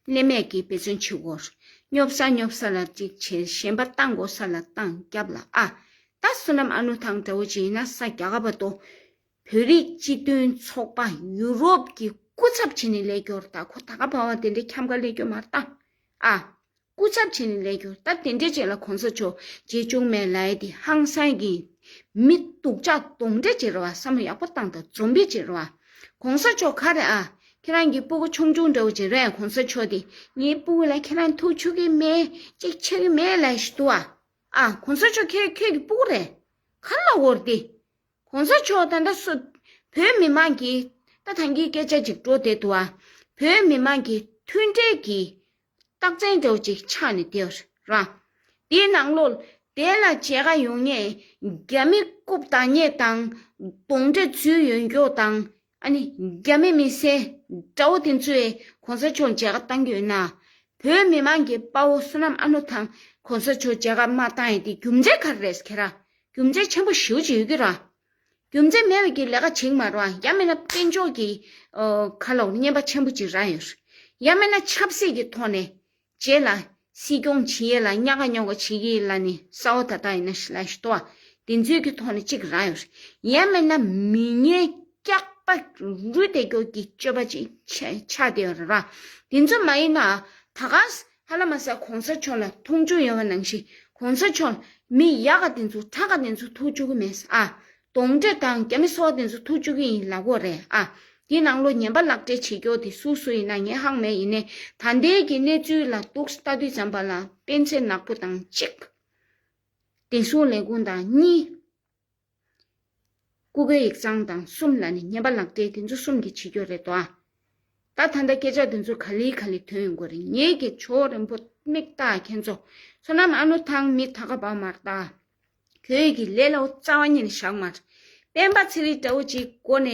སླེབས་མེད་ཀྱི་འབད་བརྩོན་བྱེད་དགོས། སྙོབ་ས་སྙོབ་ས་ལ་གཅིག་བྱས་གཞན་པ་གཏང་དགོས་ས་ལ་གཏང་རྒྱབ་ལ་ཨ། ད་བསོད་ནམས་ཨ་ནུ་ཐང་དགྲ་བོ་ཅི་ཡིན་ན་ས་རྒྱ་ག་པ་དོ། བོད་རིགས་སྤྱི་མཐུན་ཚོགས་པ་ཡུ་རོབ་ཀྱི་སྐུ་ཚབ་བྱས་ནས་ལས་སྐྱོར་ད་ཁོ་ད་ག་བ་བ་དེ་འདྲའི་ཁྱམས་ག་ལས་སྐྱོར་མ་གཏང་ཨ། སྐུ་ཚབ་བྱས་ནས་ལས་རྒྱུར་སྟབས་བདེ་འབྲེལ་བྱས་ལ་གོང་ས་མཆོག་རྗེ་བཙུན་མའི་ལའི་ཏི་ཧང་སངས་ཀྱིས་མི་སྡུག་ཅག་གདོང་འདྲེ་བྱེད་རོགས་ཨ་བསམ་བློ་ཡག་པོ་བཏང་དང་འཛོམས་པའི་བྱེད་རོགས་ཨ། གོང་ས་མཆོག་ག་རེ་ཨ། ཁྱེད་རང་གི་སྤུ་གུ་ཆུང་ཆུང་འདྲ་བོ་བྱེད་རོགས་ཨ་གོང་ས་མཆོག་དེ་ངའི་སྤུ་གུ་ལ་ཁྱེད་རང་ཐུགས་ཆུ་གི་མེད་ཅིག་ཆེ་གི་མེད་ལས་ཞིག་འདུག་ཨ། ཨ་གོང་ས་མཆོག་ཁྱེད་ཁྱོད་ཀྱི་སྤུ་གུ་རེད། ག་རེ་ལ་བོར་ཏེ། གོང་ས་མཆོག་ད་ལྟ་སུ། བོད་མི་མང་གིས་ད་ཐང་གི་སྐད་ཆ་ཅིག་བྲོ་བསྡད་འདུག་ཨ། བོད་མི་མང་གིས་མཐུན་འབྲེལ་གྱིས་རྟགས་མཚན་སྒྲོག་ཅིག་ཕྱག་ནི་དེ་བས་རང། དེ་ནང་ལོ། དེ་ལ་བྱད་ཁ་ཡོན་ངེས་རྒྱ་མི་རྐུབ་དང་སྙེ་དང། གདོང་འདྲེ་ཚུལ་ཡོན་སྐྱོག་དང། ཨ་ནི་རྒྱ་མི་མི་སེར་དགྲ་བོ་དེ་ཚོས་གོང་ས་མཆོག་མཇལ་ཁ་བཏང་གྱོད་ན། བོད་མི་མང་གི་དཔའ་བོ་བསོད་ནམས་ཨ་ནུ་དང་གོང་ས་མཆོག་མཇལ་ཁ་མ་བཏང་ཡས་དེ་རྒྱུ་མཚན་ག་རེ་རེད་ཟེར་གྱི་ར། རྒྱུ་མཚན་ཆེན་པོ་ཞེའུ་ཅིག་ཡོད་ཀྱི་ར། རྒྱུ་མཚན་མེད་པའི་ལས་ཀ་བྱེད་མ་རུང་ཡ་མེད་ན་དཔལ་འབྱོར་གྱི་ཁ་ལོ་བསྙེན་པ་ཆེན་པོ་གཅིག་རག་ཡོད་ཡ་མེད་ན་ཆབ་སྲིད་ཀྱི་ཐོག་ནས་བྱས་ལ་སྲིད་སྐྱོང་བྱེད་ཡས་ལ་སྙ་ཁ་སྙོ་ཁ་བྱེད་ཀྱི་ཡས་ལ་ནི་ས་བ་ད་ལྟ་ཡིན་ན་ཞི་ལ་ཞི་ཏོ་དེ་ཚོའི་གི་ཐོག་ནས་གཅིག་རག་ཡོད་ཡ་མེད་ན་མི་ངན་སྐྱག་པ་རུས་དེ་སྐྱོག་གི་སྤྱོད་པ་ཅིག་ཆགས་དེ་ར་དེ་ཚོ་མ་ཡིན་ན་ད་ག་ཧ་ལ་མ་ས་གོང་ས་མཆོག་ལ་མཐོང་ཆུང་ཡོད་པ་ནང་བཞིན་གོང་ས་མཆོག་མི་ཡག་ག་དེ་ཚོ་ཁྲག་ག་དེ་ཚོ་ཐུག་བཅུག་གི་མེད་ཨ། གདོང་འདྲེ་དང་རྒྱ་མི་སོག་དེ་ཚོ་ཐུག་བཅུག་གི་ཡིན་ལག་གོ་རེད་ཨ། དེ་ནང་ལོ་ཉན་པ་ལག་འབྲེལ་བྱེད་མགྱོགས་དེ་སུ་སུ་ཡིན་ན་ངས་ཧང་མེད་ཡིན་ནས་ད་ལྟའི་གི་གནས་ཚུལ་ལ་གཏུགས་ལྟ་དུས་བྱམས་པ་ལགས་སྤེན་ཚེ་ནག་པོ་དང་གཅིག། བདེ་སྲུང་ལས་ཁུངས་དང་གཉིས། སྐུ་སྒེར་ཡིག་ཚང་དང་གསུམ་ལ་ནི་བརྙན་པ་ལག་འབྲེལ་དེ་ཚོ་གསུམ་གྱིས་བྱེད་རྒྱུ་རེད་དོ། ད་ད་ལྟ་སྐད་ཆ་དེ་ཚོ་ག་ལི་ག་ལི་ཐོན་ཡོང་གི་རེད་ངེད་ཀྱི་ཆོས་རིན་པོ་མིག་རྟགས་མཁན་ཚོ་བསོད་ནམས་ཨ་ནུ་ཐང་མི་ད་ག་བར་མར་རྟགས་ཁྱོད་ཀྱི་ལས་ལའོ་རྩ་བ་ཉིད་ནས་བཞག་མར། སྤེན་པ་ཚེ་རིང་སྤྲ་བོ་ཅིག་གོ་ནས་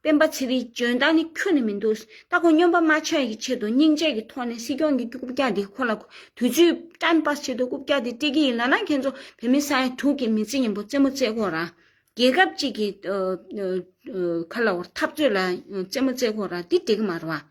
སྤེན་པ་ཚེ་རིང་འཇོན་ཐང་ནི་ཁྱོན་ནས་མི་འདུག་ད་ཁོང་སྨྱོན་པ་མ་ཆགས་ཡི་ཆེད་དུ་སྙིང་རྗེ་གི་ཐོག་ནས་སྲིད་སྐྱོང་གི་རྐུབ་བཀྱག་དེ་ཁོ་ལ་དུས་ཚོད time pass བྱེད་དུ་རྐུབ་བཀྱག་དེ་སྤྲད་ཀྱི་ཡིན་ལ་ན་ཁྱེད་ཚོ་བོད་མི་ས་ཡ་དྲུག་གི་མི་ཚེ་ཡིན་པོ་རྩེད་མོ་རྩེད་ཁོག་ར་རྒྱལ་ཁབ་ཅིག་གི་ཁ་ལ་འཐབ་རྩོད་ལ་རྩེད་མོ་རྩེད་ཁོག་ར་དེ་འགྲིག་གི་མ་རེད་བ།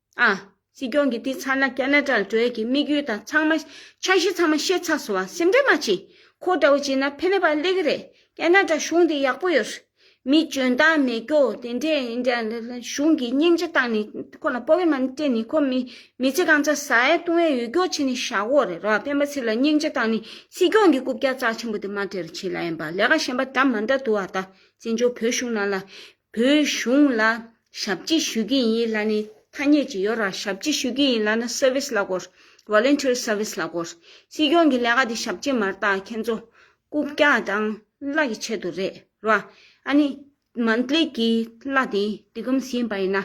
ཨ། སྲིད་སྐྱོང་གིས་དེ་ཚར་ན་ཀ་ན་ཀྲ་ལ་འགྲོ་ཡ་གི་དམིགས་ཡུལ་དང་ཚང་མ། འཆར་གཞི་ཚང་མ་ཤེས་ཚར་སོང་བ་སེམས་ཁྲལ་མ་བྱེད། ཁོ་འདྲ་བོ་བྱེད་ན་ཕན་མེད་པ་ལེགས་གི་རེད་ཀ་ན་ཀྲ་གཞུང་དེ་ཡག་པོ་ཡོད། མི་འཇོན་ཏང་མི་སྐྱོ་དེ་འདྲས་ཡིན་དྲན་ལེ་ལེ་གཞུང་གིས་སྙིང་རྗེ་བཏང་ནས་ཁོ་ལ་སྤོ་བའི་མ་ནི་སྤྲད་ནས་ཁོ་མི་མི་ཚེ་གང་ཚར་ཟ་ཡ་བཏུང་ཡ་ཡོད་སྐྱོ་བྱེད་ནས་བཞག་གོ་རེད་རོ་སྤེན་པ་ཚིག་ལ་སྙིང་རྗེ་བཏང་ནས་སྲིད་སྐྱོང་གི་རྐུབ་བཀྱག་རྩ་ཆེན་པོ་དེ་མ་བྲལ་བྱེད་ལ་ཡིན་པ་ལས་ཀ་གཞན་པ་འདྲ་མ་འདྲ་འདུག་བ་ད་བཙན་བྱོལ་བོད་གཞུང་ནང་ལ་བོད་གཞུང་ལ་ཞབས་ཕྱི་ཞུ་གི་ཡིན་ལ་ནི་ཐ་སྙད་ཅིག་ཡོད་ར་ཞབས་ཕྱི་ཞུ་གི་ཡིན་ལ་ནི Service ལ་གོ། Voluntary Service ལ་གོ། སྲིད་སྐྱོང་གི་ལས་ཀ་དེ་ཞབས་ཕྱི་མར་བཏགས་ཁྱེད་ཚོ་རྐུབ་བཀྱག་དང་བརླག་གི་ཆེད་དུ་རེད་ར། ཨ་ནི Monthly གི་བརླག་དེ་དེ་ཀུམ་ཟིན་པ་ཡིན་ན་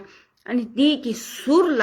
ཨ་ནི་དེ་གི་ཟུར་ལ་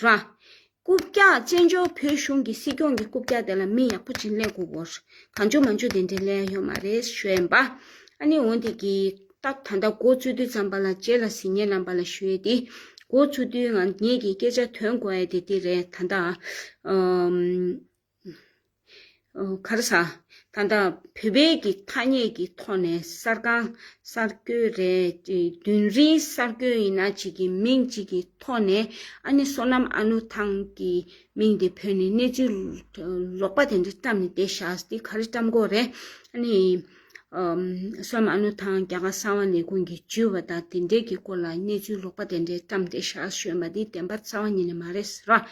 ར། རྐུབ་བཀྱག་བཙན་བྱོལ་བོད་གཞུང་གི་སྲིད་སྐྱོང་གི་རྐུབ་བཀྱག་དེ་ལ་མི་ཡག་པོ་བྱིན་ལེན་དགོས་གོ། གང་འཇུག་མ་འཇུག་དེ་འདྲའི་ལས་ཡོད་མ་རེད་གཞོན་པ། ཨ་ནི་འོན་ཏེ་གི། སྟབས་ད་ལྟ་མགོ་བཙུགས་དུས་ཙམ་པ་ལ་རྗེས་ལ་ཟིན་ཉེ་ལམ་པ་ལ་ཞུ་ཡས་ཏེ། མགོ་བཙུགས་དུས་ང་ངེད་ཀྱི་སྐད་ཆ་དོན་གོ་ཡས་དེ་དེ་རེད་ད་ད། ཁར་ས། ད་ལྟ་བོད་པའི་གི་ཐ་སྙད་ཀྱི་ཐོག་ནས་གསར་ཁང་གསར་སྐྱོད་རེད། རྒྱུན་རིང་གསར་སྐྱོད་ཡིན་ན་ཅིག་གི་མིང་ཅིག་གི་ཐོག་ནས་ཨ་ནི་བསོད་ནམས་ཨ་ནུ་ཐང་གི་མིང་དེ་བོད་ནས་གནས་ཚུལ་ལོག་པ་དེ་འདྲ་བཀྲམས་ནས་བསྡད་ཤག་དེ་ག་རེ་བཀྲམས་དགོས་རེད། ཨ་ནི། ས་མ་ནུ་དང་རྒྱ་གར་གསང་བ་ནས་ཀུན་གྱིས་བརྒྱུད་པ་དང་དེ་འབྲེལ་གྱི་སྐོར་ལ་གནས་ཚུལ་ལོག་པ་དེ་འདྲས་བཀྲམས་ཏེ་ཞར་བྱོན་པ་འདི་བདེན་པར་རྩ་བ་ཉིད་ནས་མ་རེད་ཟེར་བ།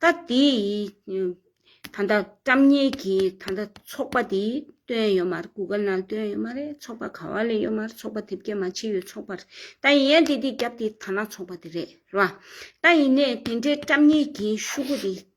ད་དེ་ཡིས་ད་ལྟ་བཀྲམས་ཉེས་ཀྱི་ད་ལྟ་ཚོགས་པ་འདི་བཏོན་ཡོད་མ་རེད་གུ་གལ་ནང་བཏོན་ཡོད་མ་རེད་ཚོགས་པ་ག་བ་ལས་ཡོད་མ་རེད་ཚོགས་པ་དེབ་སྐྱེལ་མ་བྱས་ཡོད་ཚོགས་པར་ད་ཡིན་ཡང་དེ་དེ་རྒྱབ་དེ་ད་ནང་ཚོགས་པ་དེ་རེད་ཟེར་བ། ད་ཡིན་ནས་དེ་འདྲས་བཀྲམས་ཉེས་ཀྱི་ཤུ་གུ་དེ་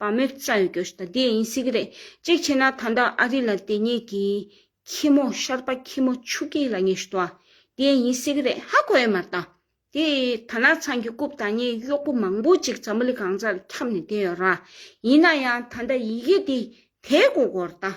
བ་མོའི་རྩ་ཡོད་རྒྱུ་ཞིག་དང་དེ་ཡིན་སྲིད་ཀྱི་རེད། གཅིག་བྱས་ན་ད་ལྟ་ཨ་རི་ལ་དེ་གཉིས་ཀྱི་ཁྱི་མོ་ཤར་པ་ཁྱི་མོ་ཆུ་སྐྱིད་ལ་ཉེ་ཞུ་བ་དེ་ཡིན་སྲིད་ཀྱི་རེད་ཧ་གོ་ཡོད་མ་གཏང། དེ་ད་ནག་ཚང་གི་རྐུབ་དང་གཉིས་གཡོག་པོ་མང་པོ་ཅིག་ཛམྦུ་ལི་གངས་རྩ་ལ་ཁྱབ་ནས་བསྡད་ཡོད་ར། ཡིན་ན་ཡང་ད་ལྟ་ཡི་གེ་དེ་དེའི་མགོ་སྐོར་དང་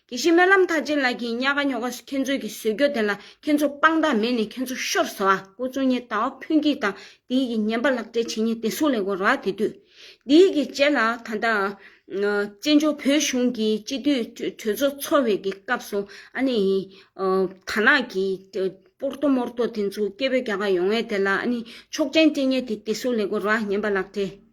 དེ་བཞིན་སྨོན་ལམ་མཐའ་ཅན་ལགས་ཀྱིས་གཉའ་ག་ཉོ་ག་ཁྱེད་ཚོའི་གི་ཟོལ་གྱོ་དེ་ལ་ཁྱེད་ཚོ་དཔང་རྟགས་མེད་ནས་ཁྱེད་ཚོ་ཤོར་ཟེར་བ་ཁོ་ཚོ་གཉིས་ད་བ་ཕུན་སྐྱིད་དང་དེ་ཡིག་གི་ཉན་པ་ལག་སྤྲད་བྱེད་ཉེ་དེ་སུ་ལས་གོ་ར་དེ་དུས་དེ་ཡིག་གི་རྗེས་ལ་ད་ལྟ་བཙན་བྱོལ་བོད་གཞུང་གི་སྤྱི་འཐུས་གྲོས་ཚོགས་འཚོ་བའི་གི་སྐབས་སུ་ཨ་ནི་དར་ནག་གི་སྤོར་ཏོ་མོར་ཏོ་དེ་ཚོ་སྐད་འབོད་རྒྱག་ག་ཡོང་ངེས་དེ་ལ་ཨ་ནི་ཆོག་མཆན་སྤྲད་ཉེ་དེ་དེ་སུ་ལས་གོ་ར་ཉན་པ་ལག་སྤྲད།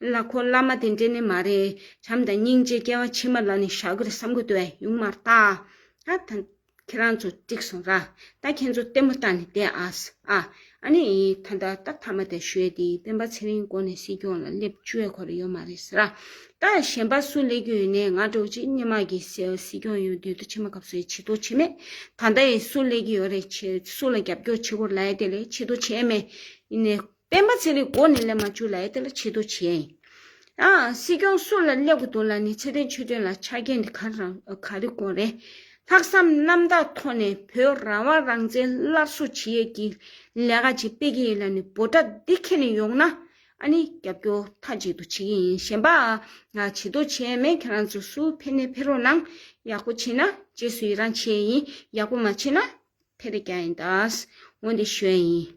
བླ་ཁོ་བླ་མ་དེ་འདྲས་ནི་མ་རེད་བྱམས་དང་སྙིང་རྗེ་སྐྱེ་བ་ཕྱི་མ་ལ་ནི་བཞག་གིར་བསམ་གི་འདུག་བས་ཡུང་མར་བཏགས། ཨ་ད། ཁྱེད་རང་ཚོ་འགྲིག་སོང་ར། ད་ཁྱེད་ཚོ་ལྟད་མོ་ལྟ་ནས་བསྡད་ཨ། ཨ་ནི། ད་ད་ད་མཐའ་མ་དེ་ཞོལ་དེའི་སྤེན་པ་ཚེ་རིང་དགོན་ནས་སྲིད་སྐྱོང་ལ་སླེབས་བཅོས་ཁོ་རེ་ཡོད་མ་རེད་ཟེར། ད་གཞན་པ་སུ་སླེབས་རྒྱུ་ཡོད་ནས་ང་འགྲོ་གི་ཅིག་སྙེ་མ་གི་སྲིད་སྐྱོང་ཡོད་དུས་ད་ཕྱི་མ་གབ་སོ་ཡི་ཕྱི་ཐོ་བྱེད་མེད། ད་ད་ཡི་སུ་སླེབས་ཀྱི་ཡོད་རེད་ཆེ་སུ་ལ་རྒྱབ་སྐྱོར་བྱེད་དགོས་ར་ཡི་དེ་ལས་ཕྱི་ཐོ་བྱས་མེད། ཡིན་ནས། སྤེན་པ་ཚེ་རིང་མགོ་ནས་སླེབས་མ་བཅུག་ལ་ཨེ་ཏེ་ལ་ཕྱི་དོ་བྱས། སྲིད་སྐྱོང་སུ་ལ་སླེབས་དགོས་འདུག་ལ་ནི་ཚེ་བརྟན་ཆོས་དོན་ལ་ཆ་རྐྱེན་འདི་ག་རང་ག་རི་གོང་རེད། ལྷག་བསམ་རྣམ་དག་ཐོག་ནས་བོད་རང་དབང་རང་བཙན་སླར་གསོ་བྱེད་ཡས་ཀྱི་ལས་ཀ་ཅིག་སྤེལ་གྱི་ཡིན་ལ་ནི་འབོ་དྲ་འདི་ཁྱེར་ནས་ཡོང་ན་ཨ་ནི་རྒྱབ་སྐྱོར་མཐའ་གཅིག་ཏུ་བྱེད་ཀྱི་ཡིན་གཞན་པ་ང་བྱེད་དོ་བྱས་མེད་ཁྱེད་རང་ཚོ་སུ་ཕེ་ནས་ཕེ་རོགས་གནང་ཡག་པོ་བྱེད་ན་རྗེས་སུ་ཡི་རང་བྱེད་ཡས་ཡིན་ཡག་པོ་མ་བྱེད་ན་ཕེ་རེ་རྒྱག་ཡིན་ད་འོན་ཏེ་ཞོན་ཡིན།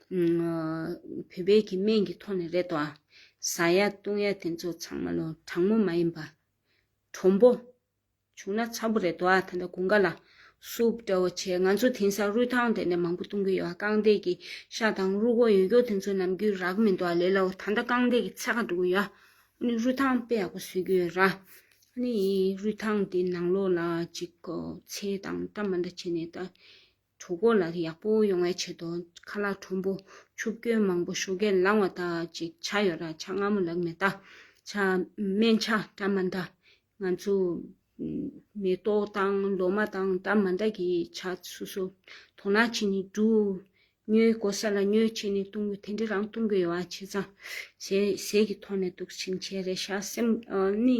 བོད་པའི་གི་སྨན་གི་ཐོག་ནས་རེད་དོ། ཟ་ཡ་བཏུང་ཡ་དེ་ཚོ་ཚང་མ་ལོ་དྲང་མོ་མ་ཡིན་པ། གྲོང་པོ། བྱུང་ན་ཚ་པོ་རེད་དོ་ད་ལྟ་དགུན་ཁ་ལ། སུབ་འདྲ་བོ་བྱེད་ང་ཚོ་དེང་སང་རུས་ཐང་དེ་ནས་མང་པོ་བཏུང་གི་ཡོད་རྐང་རྡེག་གི་ཤ་དང་རུ་གོ་ཡོད་ཀྱོ་དེ་ཚོ་ནམ་རྒྱུན་རག་མི་འདུག་ལེ་ལའོ་ད་ལྟ་རྐང་རྡེག་གི་ཚད་ཁ་འགྲོ་གི་ཡོད། ནི་རུས་ཐང་དཔེ་ཡག་པོ་བཟོས་ཀྱི་ཡོད་ར། ནི་རུས་ཐང་དེ་ནང་ལོགས་ལ་ཅིག་ཚེ་དང་བཀྲ་མ་འདྲ་བྱས་ནས་ད། གྲོ་གོ་ལ་ཡག་པོ་ཡོང་བའི་ཆེད་དུ་ཁ་ལག་ཁྲོམ་པོ་ཆུ་སྐྱོན་མང་པོ་ཤོ་གས་ལང་བ་དག་ཅིག་བྱ་ཡོད་ར་ཆ་སྔ་མོ་ལགས་མེ་ད་ཆ་སྨན་ཆ་བཀྲ་མ་འདྲ་ང་ཚོ་མེ་ཏོག་དང་ལོ་མ་དང་བཀྲ་མ་འདྲ་གི་ཆ་སུ་སུ་དོ་ན་བྱེད་ནི་འགྲུ་ཉོས་གོ་ས་ལ་ཉོས་བྱེད་ནི་གཏོང་གི་དེ་འདྲི་རང་གཏོང་གི་ཡོད་བ་བྱེད་ཙང་ཟས་ཟས་ཀྱི་ཐོག་ནས་འདུག་ཕྱིན་ཆད་རེ་ཤ་སེམས་ནི།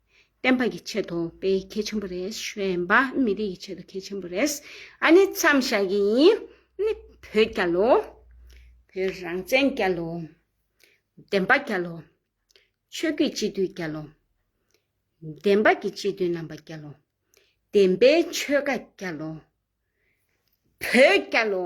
བསྟན་པ་ཀྱི་ཆེད་དུ་དཔེ་གལ་ཆེན་པོ་རེད་བཤད་པ་མི་རིགས་ཀྱི་ཆེད་དུ་གལ་ཆེན་པོ་རེད་ཨ་ནི་མཚམས་བཞག་གི་ཡིན་ནི་བོད་རྒྱ་ལོ་བོད་རང་བཙན་རྒྱ་ལོ་བདེན་པ་རྒྱ་ལོ་ཆོས་རྒྱུད་སྤྱི་མཐུས་རྒྱ་ལོ་བདེན་པ་ཀྱི་སྤྱི་མཐུས་རྣམ་པ་རྒྱ་ལོ་བདེན་པའི་ཆོས་ཀ་རྒྱ་ལོ་བོད་རྒྱ་ལོ།